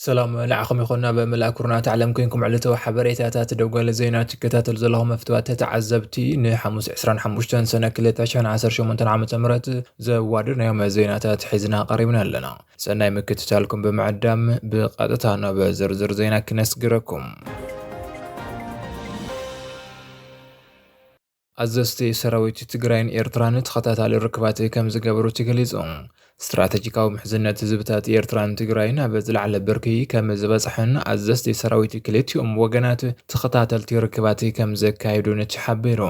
ሰላም ንዓኹም ይኹን ናብ መላእ ኩርናት ዓለም ኮንኩም ዕለታዊ ሓበሬታታት ደጓሊ ዜና ትከታተሉ ዘለኹም መፍትዋት ተተዓዘብቲ ንሓሙስ 25 ሰነ 2018 ዓ ም ዘዋድድናዮም ዜናታት ሒዝና ቀሪብና ኣለና ሰናይ ምክትታልኩም ብምዕዳም ብቐጥታ ናብ ዝርዝር ዜና ክነስግረኩም። ኣዘዝቲ ሰራዊት ትግራይን ኤርትራን ተኸታታሊ ርክባት ከም ዝገበሩ ተገሊጹ። ስትራተጂካዊ ምሕዝነት ህዝብታት ኤርትራን ትግራይን ኣብ ዝለዓለ ብርኪ ከም ዝበጽሐን ኣዘዝቲ ሰራዊት ክልቲኦም ወገናት ተኸታተልቲ ርክባት ከም ዘካየዱን ተሓቢሩ።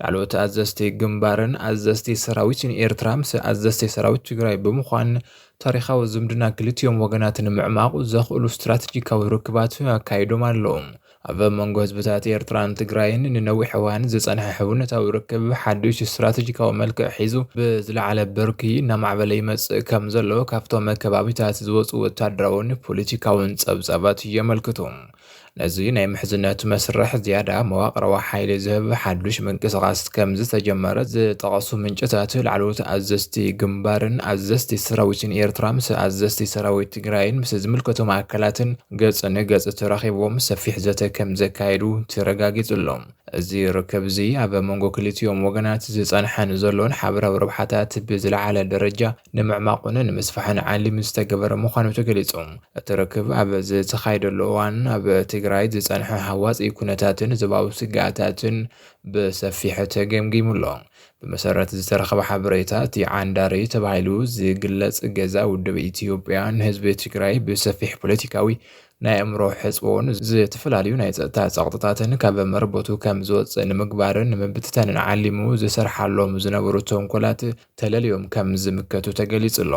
ላዕለዎት ኣዘዝቲ ግንባርን ኣዘዝቲ ሰራዊትን ኤርትራ ምስ ኣዘዝቲ ሰራዊት ትግራይ ብምዃን ታሪኻዊ ዝምድና ክልቲኦም ወገናት ንምዕማቑ ዘኽእሉ ስትራቴጂካዊ ርክባት ኣካይዶም ኣለዉ። ኣብ መንጎ ህዝብታት ኤርትራን ትግራይን ንነዊሕ እዋን ዝጸንሐ ሕውነታዊ ርክብ ሓድሽ ስትራቴጂካዊ መልክዕ ሒዙ ብዝለዓለ ብርኪ እናማዕበለ ይመጽእ ከም ዘሎ ካብቶም ከባቢታት ዝወጹ ወተሃደራውን ፖለቲካውን ጸብጻባት የመልክቱ። ነዚ ናይ ምሕዝነት መስርሕ ዝያዳ መዋቕራዊ ሓይሊ ዝህብ ሓዱሽ ምንቅስቓስ ከም ዝተጀመረ ዝጠቐሱ ምንጭታት፣ ላዕለዎት ኣዘዝቲ ግንባርን ኣዘዝቲ ሰራዊትን ኤርትራ ምስ ኣዘዝቲ ሰራዊት ትግራይን ምስ ዝምልከቶም ኣካላትን ገጽ ንገጽ ተራኺቦም ሰፊሕ ዘተ ከም ዘካየዱ ተረጋጊጹ ኣሎ። እዚ ርክብ'ዚ ኣብ መንጎ ክልቲኦም ወገናት ዝጸንሐን ዘሎን ሓበራዊ ረብሓታት ብዝለዓለ ደረጃ ንምዕማቑን ንምስፋሕን ዓሊሙ ዝተገበረ ምዃኑ ተገሊፁ። እቲ ርክብ ኣብ ዝተኻየደሉ እዋን ኣብ ትግራይ ዝፀንሐ ሃዋፂ ኩነታትን ዞባዊ ስግኣታትን ብሰፊሑ ተገምጊሙ ኣሎ። ብመሰረት ዝተረኸበ ሓበሬታ እቲ ዓንዳሪ ተባሂሉ ዝግለፅ ገዛ ውድብ ኢትዮጵያ ንህዝቢ ትግራይ ብሰፊሕ ፖለቲካዊ ናይ ኣእምሮ ሕፅቦን ዝተፈላለዩ ናይ ፀጥታ ፀቕጥታትን ካብ መረበቱ ከም ዝወፅእ ንምግባርን ንምብትታንን ዓሊሙ ዝሰርሓሎም ዝነበሩ ተንኮላት ተለልዮም ከም ዝምከቱ ተገሊፁ ኣሎ።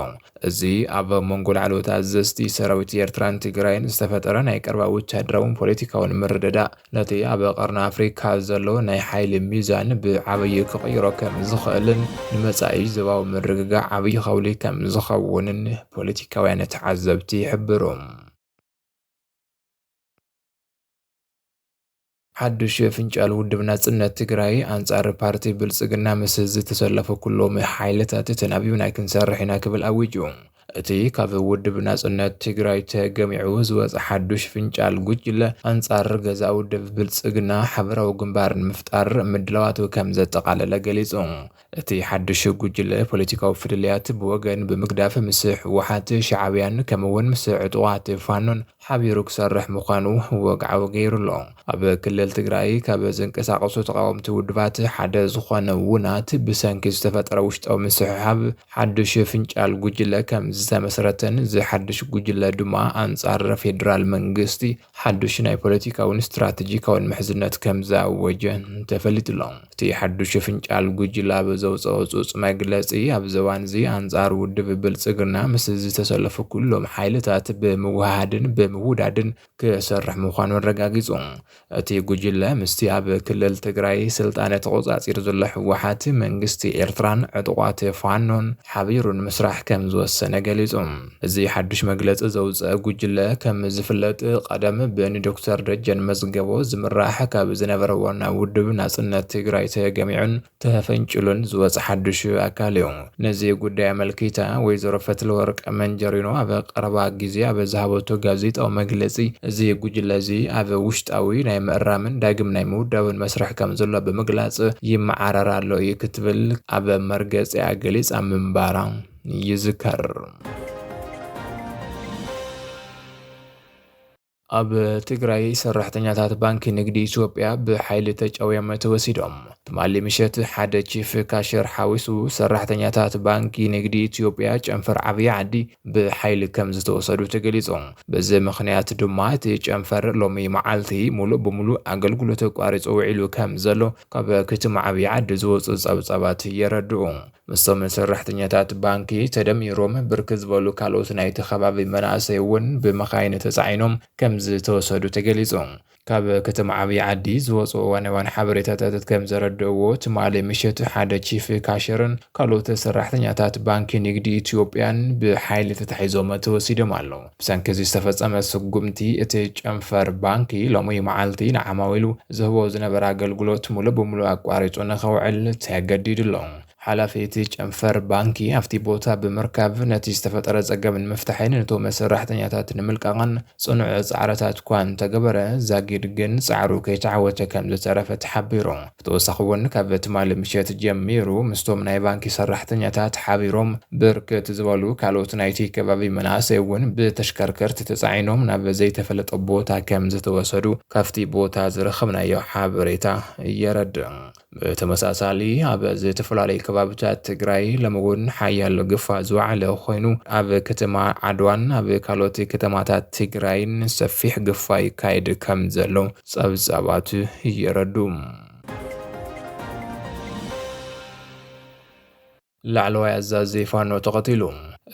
እዚ ኣብ መንጎ ላዕለዎት ኣዘዝቲ ሰራዊት ኤርትራን ትግራይን ዝተፈጠረ ናይ ቀረባ ወታደራውን ፖለቲካውን ምርድዳእ ነቲ ኣብ ቀርኒ ኣፍሪካ ዘሎ ናይ ሓይሊ ሚዛን ብዓብዪ ክቕይሮ ከም ዝኽእልን ንመጻኢ ዞባዊ ምርግጋእ ዓብዪ ከውሊ ከም ዝኸውንን ፖለቲካውያን ተዓዘብቲ ይሕብሩ። ሓዱሽ የፍንጫል ውድብ ናጽነት ትግራይ ኣንጻር ፓርቲ ብልጽግና ምስ ዝተሰለፉ ኩሎም ሓይልታት ተናቢብና ክንሰርሕ ኢና ክብል ኣዊጁ። እቲ ካብ ውድብ ናጽነት ትግራይ ተገሚዑ ዝወጸ ሓዱሽ ፍንጫል ጉጅለ ኣንጻር ገዛእ ውድብ ብልጽግና ሓበራዊ ግንባር ንምፍጣር ምድላዋቱ ከምዘጠቓለለ ገሊጹ። እቲ ሓዱሽ ጉጅለ ፖለቲካዊ ፍልልያት ብወገን ብምግዳፍ ምስ ህወሓት፣ ሻዕብያን ከምኡ እውን ምስ ዕጡቓት ፋኖን ሓቢሩ ክሰርሕ ምዃኑ ወግዓዊ ገይሩ ኣሎ። ኣብ ክልል ትግራይ ካብ ዝንቀሳቐሱ ተቓወምቲ ውድባት ሓደ ዝኾነ ውናት ብሰንኪ ዝተፈጠረ ውሽጣዊ ምስሕሓብ ሓዱሽ ፍንጫል ጉጅለ ከምዝተመስረተን እዚ ሓዱሽ ጉጅለ ድማ ኣንፃር ፌዴራል መንግስቲ ሓዱሽ ናይ ፖለቲካውን ስትራተጂካውን ምሕዝነት ከም ዝኣወጀ ተፈሊጡ'ሎ። እቲ ሓዱሽ ፍንጫል ጉጅለ ኣብ ዘውጸኦ ህጹጽ መግለጺ፣ ኣብዚ እዋን'ዚ ኣንጻር ውድብ ብልጽግና ምስ ዝተሰለፉ ኩሎም ሓይልታት ብምውህሃድን ብምውዳድን ክሰርሕ ምዃኑ ኣረጋጊጹ። እቲ ጉጅለ ምስቲ ኣብ ክልል ትግራይ ስልጣነ ተቖጻጺሩ ዘሎ ህወሓት፣ መንግስቲ ኤርትራን ዕጡቓት ፋኖን ሓቢሩ ንምስራሕ ከም ዝወሰነ ገሊጹ። እዚ ሓዱሽ መግለፂ ዘውፀኣ ጉጅለ ከም ዝፍለጥ ቐደም ብንዶክተር ደጀን መዝገቦ ዝምራሕ ካብ ዝነበረ ዋና ውድብ ናፅነት ትግራይ ተገሚዑን ተፈንጭሉን ዝወፀ ሓዱሽ ኣካል እዩ። ነዚ ጉዳይ ኣመልኪታ ወይዘሮ ፈትለወርቅ መንጀሪኖ ኣብ ቐረባ ግዜ ኣብ ዝሃበቶ ጋዜጣዊ መግለፂ እዚ ጉጅለ እዚ ኣብ ውሽጣዊ ናይ ምእራምን ዳግም ናይ ምውዳብን መስርሕ ከም ዘሎ ብምግላፅ ይመዓረር ኣሎ እዩ ክትብል ኣብ መርገፂኣ ገሊፃ ምንባራ ይዝከር። ኣብ ትግራይ ሰራሕተኛታት ባንኪ ንግዲ ኢትዮጵያ ብሓይሊ ተጨውዮም ተወሲዶም። ትማሊ ምሸት ሓደ ቺፍ ካሸር ሓዊሱ ሰራሕተኛታት ባንኪ ንግዲ ኢትዮጵያ ጨንፈር ዓብዪ ዓዲ ብሓይሊ ከም ዝተወሰዱ ተገሊጹ። በዚ ምክንያት ድማ እቲ ጨንፈር ሎሚ መዓልቲ ሙሉእ ብምሉእ ኣገልግሎት ኣቋሪጹ ውዒሉ ከም ዘሎ ካብ ክትማ ዓብዪ ዓዲ ዝወፁ ጸብጻባት የረድኡ። ምስቶም ሰራሕተኛታት ባንኪ ተደሚሮም ብርክት ዝበሉ ካልኦት ናይቲ ከባቢ መናእሰይ እውን ብመኻይን ተፃዒኖም ከምዝተወሰዱ ተገሊፁ። ካብ ከተማ ዓብዪ ዓዲ ዝወፁ እዋናውያን ሓበሬታታት ከምዘረድእዎ ትማሊ ምሸት ሓደ ቺፍ ካሸርን ካልኦት ሰራሕተኛታት ባንኪ ንግዲ ኢትዮጵያን ብሓይሊ ተታሒዞም ተወሲዶም ኣለው። ብሰንኪ እዚ ዝተፈጸመ ስጉምቲ፣ እቲ ጨንፈር ባንኪ ሎሚ መዓልቲ ንዓማዊሉ ዝህቦ ዝነበረ ኣገልግሎት ምሉእ ብምሉእ ኣቋሪጹ ንኸውዕል ተገዲዱ ኣሎ። ሓላፊ እቲ ጨንፈር ባንኪ ኣብቲ ቦታ ብምርካብ ነቲ ዝተፈጠረ ጸገም ንምፍታሕን ንቶም ሰራሕተኛታት ንምልቃቕን ጽኑዕ ጻዕርታት'ኳ እንተገበረ ዛጊድ ግን ጻዕሩ ከይተዓወተ ከምዝተረፈ ተሓቢሩ። ብተወሳኺ እውን ካብ ትማሊ ምሸት ጀሚሩ ምስቶም ናይ ባንኪ ሰራሕተኛታት ሓቢሮም ብርክት ዝበሉ ካልኦት ናይቲ ከባቢ መናእሰይ እውን ብተሽከርከርቲ ተፃዒኖም ናብ ዘይተፈለጠ ቦታ ከም ዝተወሰዱ ካብቲ ቦታ ዝረኸብናዮ ሓበሬታ የረድእ። ብተመሳሳሊ ኣብ ዝተፈላለዩ ከባብታት ትግራይ ሎሚ እውን ሓያሎ ግፋ ዝወዓለ ኮይኑ ኣብ ከተማ ዓድዋን ኣብ ካልኦት ከተማታት ትግራይን ሰፊሕ ግፋ ይካየድ ከም ዘሎ ጸብጻባት የረድኡ። ላዕለዋይ ኣዛዚ ፋኖ ተቐቲሉ።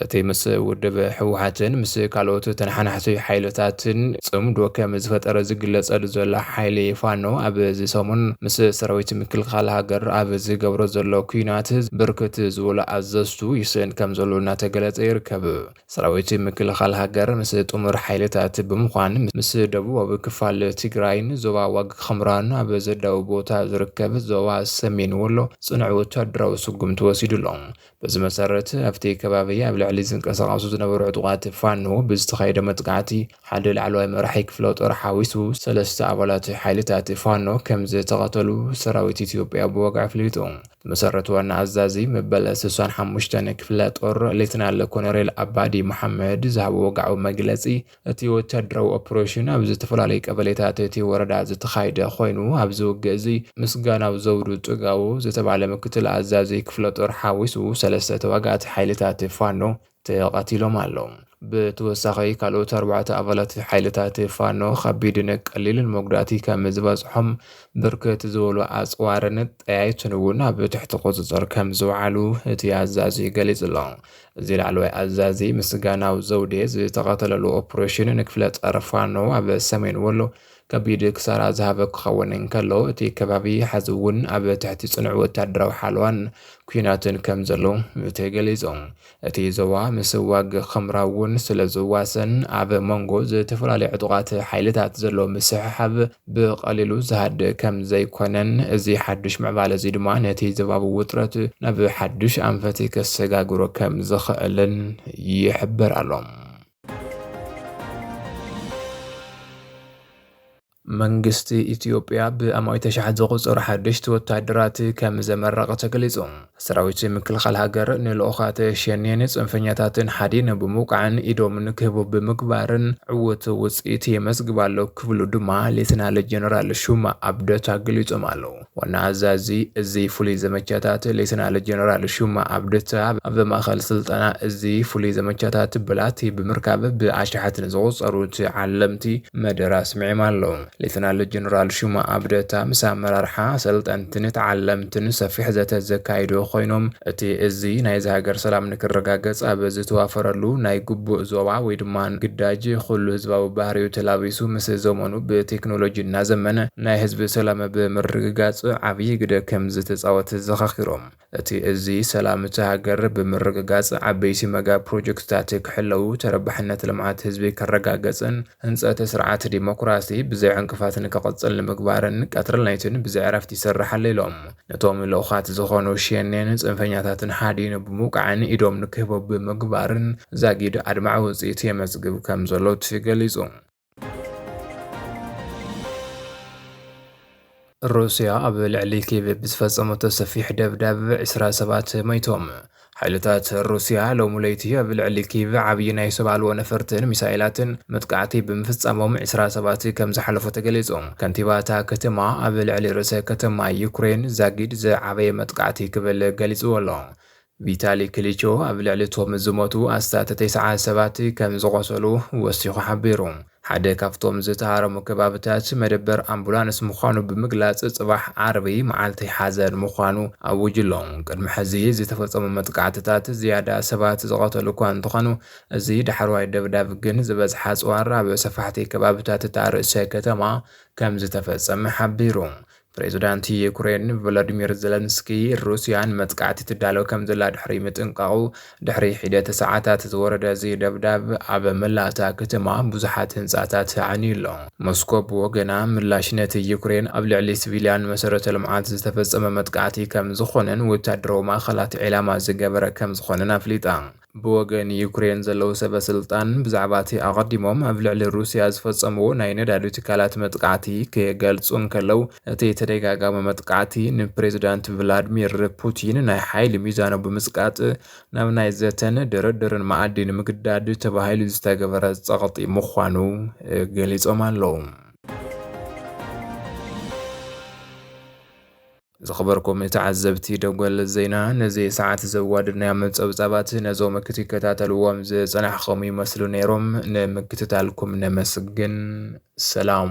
እቲ ምስ ውድብ ህወሓትን ምስ ካልኦት ተነሓናሕቲ ሓይልታትን ጽምዶ ከም ዝፈጠረ ዝግለጸሉ ዘሎ ሓይሊ ፋኖ ኣብዚ ሰሙን ምስ ሰራዊት ምክልኻል ሃገር ኣብ ዝገብሮ ዘሎ ኩናት ብርክት ዝበሉ ኣዘዝቱ ይስእን ከም ዘሎ እናተገለጸ ይርከብ። ሰራዊት ምክልኻል ሃገር ምስ ጥሙር ሓይልታት ብምዃን ምስ ደቡባዊ ክፋል ትግራይን ዞባ ዋግ ኽምራን ኣብ ዘዳዊ ቦታ ዝርከብ ዞባ ሰሜን ወሎ ፅኑዕ ወታደራዊ ስጉምቲ ወሲዱ ኣሎ። በዚ መሰረት ኣብቲ ከባቢ ኣብ ልዕሊ ዝንቀሳቐሱ ዝነበሩ ዕጡቓት ፋኖ ብዝተኻየደ መጥቃዕቲ ሓደ ላዕለዋይ መራሒ ክፍለጦር ሓዊሱ ሰለስተ ኣባላት ሓይልታት ፋኖ ከምዝተቐተሉ ሰራዊት ኢትዮጵያ ብወግዒ ኣፍሊጡ። ብመሰረት ዋና ኣዛዚ መበል ስሳን ሓሙሽተን ክፍለጦር ሌተናል ኮሎኔል ኣባዲ መሓመድ ዝሃቦ ወግዓዊ መግለጺ፣ እቲ ወታደራዊ ኦፕሬሽን ኣብ ዝተፈላለዩ ቀበሌታት እቲ ወረዳ ዝተኻይደ ኮይኑ፣ ኣብዚ ውግእ እዚ ምስጋናው ዘውዱ ጥጋቡ ዝተባህለ ምክትል ኣዛዚ ክፍለጦር ሓዊሱ ሰለስተ ተዋጋእቲ ሓይልታት ፋኖ ተቐቲሎም ኣለው። ብተወሳኺ ካልኦት ኣርባዕተ ኣባላት ሓይልታት ፋኖ ከቢድን ቀሊልን መጉዳእቲ ከም ዝበፅሖም ብርክት ዝበሉ ኣፅዋርን ጠያይትን እውን ኣብ ትሕቲ ቁፅፅር ከም ዝውዓሉ እቲ ኣዛዚ ገሊጹ ኣሎ። እዚ ላዕለዋይ ኣዛዚ ምስጋናው ዘውዴ ዝተቐተለሉ ኦፕሬሽን ንክፍለ ጸር ፋኖ ኣብ ሰሜን ወሎ ከቢድ ክሳራ ዝሃበ ክኸውን እንከሎ፣ እቲ ከባቢ ሐዚ እውን ኣብ ትሕቲ ጽኑዕ ወታደራዊ ሓለዋን ኲናትን ከም ዘሎ እቲ ገሊጹ። እቲ ዞባ ምስ ዋግ ኽምራ እውን ስለ ዝዋሰን ኣብ መንጎ ዝተፈላለዩ ዕጡቓት ሓይልታት ዘሎ ምስሕሓብ ብቐሊሉ ዝሃድእ ከም ዘይኮነን እዚ ሓዱሽ ምዕባለ እዚ ድማ ነቲ ዞባዊ ውጥረት ናብ ሓዱሽ ኣንፈት ከሰጋግሮ ከም ዝኽእልን ይሕበር ኣሎ። መንግስቲ ኢትዮጵያ ብኣማኢት ኣሽሓት ዝቑጸሩ ሓደሽቲ ወታደራት ከም ዘመረቐ ተገሊጹ። ሰራዊት ምክልኻል ሃገር ንልኡኻት ሸኔን ጽንፈኛታትን ሓዲኑ ብምውቃዕን ኢዶም ንክህቡ ብምግባርን ዕውት ውጽኢት የመዝግብ ኣሎ ክብሉ ድማ ሌተናል ጀነራል ሹማ ኣብደታ ገሊጾም ኣለዉ። ዋና ኣዛዚ እዚ ፍሉይ ዘመቻታት ሌተናል ጀነራል ሹማ ኣብደታ ኣብ ማእኸል ስልጠና እዚ ፍሉይ ዘመቻታት ብላቲ ብምርካብ ብኣሽሓት ንዝቑፀሩ ተዓለምቲ መደረ ኣስሚዕም ኣለው። ሌተናል ጀነራል ሹማ ኣብደታ ምስ ኣመራርሓ፣ ኣሰልጠንትን ተዓለምትን ሰፊሕ ዘተ ዘካይዱ ኮይኖም እቲ እዚ ናይዛ ሃገር ሰላም ንክረጋገፅ ኣብ ዝተዋፈረሉ ናይ ግቡእ ዞባ ወይ ድማ ግዳጅ ኹሉ ህዝባዊ ባህሪኡ ተላቢሱ ምስ ዘመኑ ብቴክኖሎጂ እናዘመነ ናይ ህዝቢ ሰላም ኣብ ምርግጋፅ ዓብዪ ግደ ከምዝተፃወተ ዘኻኺሮም፣ እቲ እዚ ሰላም እታ ሃገር ብምርግጋፅ ዓበይቲ መጋ ፕሮጀክትታት ክሕለዉ፣ ተረባሕነት ልምዓት ህዝቢ ክረጋገፅን ህንፀት ስርዓት ዲሞክራሲ ብዘይ ዕንቅፋት ንክቕፅል ንምግባርን ቀትርን ለይትን ብዘይዕረፍት ይሰርሕ ኣሎ ኢሎም። ነቶም ልኡኻት ዝኾኑ ሸኔን ፅንፈኛታትን ሓዲኑ ብምውቃዕን ኢዶም ንክህቡ ብምግባርን ዛጊድ ኣድማዒ ውፅኢት የመዝግብ ከምዘሎ ተገሊፁ። ሩስያ ኣብ ልዕሊ ኬቭ ብዝፈጸመቶ ሰፊሕ ደብዳብ ዕስራ ሰባት ሞይቶም። ሓይልታት ሩስያ ሎሚ ለይቲ ኣብ ልዕሊ ኬቭ ዓብዪ ናይ ሰብ ኣልቦ ነፈርትን ሚሳይላትን መጥቃዕቲ ብምፍጻሞም ዕስራ ሰባት ከም ዝሓለፉ ተገሊጹ። ከንቲባ እታ ከተማ ኣብ ልዕሊ ርእሰ ከተማ ዩክሬን ዛጊድ ዝዓበየ መጥቃዕቲ ክብል ገሊጽዎ ኣሎ። ቪታሊ ክሊቾ ኣብ ልዕሊ እቶም ዝሞቱ ኣስታት ተስዓ ሰባት ከም ዝቖሰሉ ወሲኹ ሓቢሩ። ሓደ ካብቶም ዝተሃረሙ ከባብታት መደበር ኣምቡላንስ ምዃኑ ብምግላጽ ጽባሕ ዓርቢ መዓልቲ ሓዘን ምዃኑ ኣዊጁ ኣሎ። ቅድሚ ሕዚ ዝተፈጸሙ መጥቃዕትታት ዝያዳ ሰባት ዝቐተሉ እኳ እንተኾኑ፣ እዚ ዳሕረዋይ ደብዳብ ግን ዝበዝሐ ኣጽዋር ኣብ ሰፋሕቲ ከባብታት እታ ርእሰ ከተማ ከም ዝተፈጸመ ሓቢሩ። ፕሬዝዳንት ዩክሬን ቮሎዲሚር ዘለንስኪ ሩስያ ንመጥቃዕቲ ትዳሎ ከም ዘላ ድሕሪ ምጥንቃቑ ድሕሪ ሒደት ሰዓታት ዝወረደ እዚ ደብዳብ ኣብ መላእ እታ ከተማ ብዙሓት ህንጻታት ኣዕንዩ ኣሎ። ሞስኮ ብወገና ምላሽ ነቲ ዩክሬን ኣብ ልዕሊ ሲቪልያን መሰረተ ልምዓት ዝተፈጸመ መጥቃዕቲ ከም ዝኾነን ወታደራዊ ማእኸላት ዒላማ ዝገበረ ከም ዝኾነን ኣፍሊጣ። ብወገን ዩክሬን ዘለዉ ሰበስልጣን ብዛዕባ'ቲ ኣቐዲሞም ኣብ ልዕሊ ሩስያ ዝፈጸምዎ ናይ ነዳዲ ትካላት መጥቃዕቲ ክገልጹ እንከለዉ፣ እቲ ተደጋጋሚ መጥቃዕቲ ንፕሬዝዳንት ቭላድሚር ፑቲን ናይ ሓይሊ ሚዛኑ ብምጽቃጥ ናብ ናይ ዘተን ድርድርን መኣዲ ንምግዳድ ተባሂሉ ዝተገበረ ጸቕጢ ምዃኑ ገሊጾም ኣለዉ። ዝኽበርኩም ተዓዘብቲ ደጎል ዜና ነዚ ሰዓት ዘዋድድናዮም ጸብጻባት ነዞም ክትከታተልዎም ዝጸናሕኹም ይመስሉ ነይሮም። ንምክትታልኩም ነመስግን። ሰላም